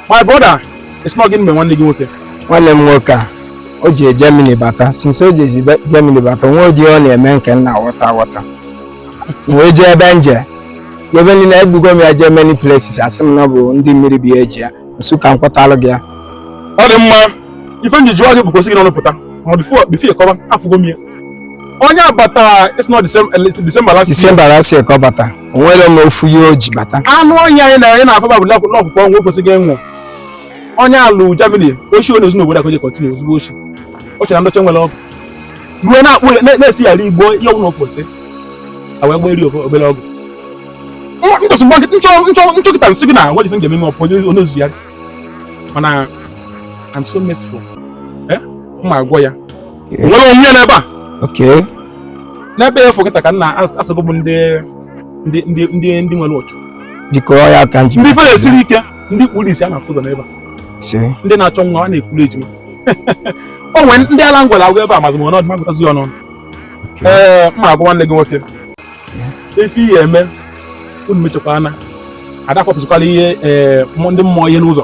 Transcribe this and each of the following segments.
my brother it's not giving me one nigga nwoke nwanne m nwoke a o ji Germany bata since o ji Germany bata o nwe ụdị ọ na-eme nke m na-aghọta aghọta wee jee ebe nje ebe niile ebugo m ya jee many places a sị m na ọ bụ ndị mmiri bi eji ya m sị ka m kpọtalụ gị ya ọ dị mma ife m ji jụọ gị bụ ka o si gị n'ọnụ pụta ma before before ị kọwa afụgo m ya onye a bata it's not December December last year December last year ka ọ bata o nwerọ ma ofu ihe o ji bata anụ ọhịa anyị na anyị na-afaba bụ n'ọkụkọ ọnwụ kwesịghị ịnwụ onye alụ Germany ochi onye ezinụlọ obodo akoje kọtinu ozugbo ochi o chere ndọcha nwere ọgụ ruo na-akpụ na-esi yara igbo ihe ọnwụ n'ofe ose a wee gbaa eri obere ọgụ nkwụsị mgbe nchọkịta m sị gị na nwere ife m ga-eme ọpụ onye ozu ya mana I'm so merciful eh? ma agwọ ya nwere onwe ya n'ebe a okay n'ebe a fokịta ka nna asọgbu m ndị nwere otu jikọọ ya aka nji ndị ife na-esiri ike ndị kpuru isi a na-afụ ụzọ n'ebe a ndị na-achọ nwa a na-ekuru ejima o nwere ndị ala m gwọrọ agwọ ebe a mazị m ọnọdụ m agụtazi ọnụ ee m ma agwọ nwanne gị nwoke ife ihe eme unu mechakwa ana ada akwapụsịkwala ihe ndị mmụọ ihe n'ụzọ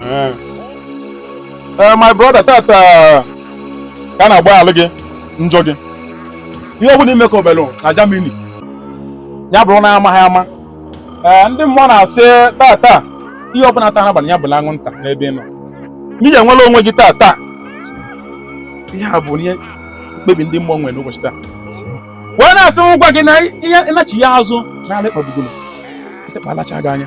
Eh. Eh, my brother tata ka a na-agbaghalụ gị njọ gị ihe ọ bụla i me ka obelụ na Germany ya bụrụ na amaghị ama ee eh, ndị mmụọ na-asị tata ihe ọbụla taa n'abalị ya bụla anwụnta n'ebe ị nọ n'ihi i nwere onwe gị tata ihe a bụ ihe mkpebi ndị mmụọ nwere n'ụbọchị taa wee na-asị m gwa gị na ihe ịnachi ya azụ na-ala ịkpagbugo ịtekpalacha gị anya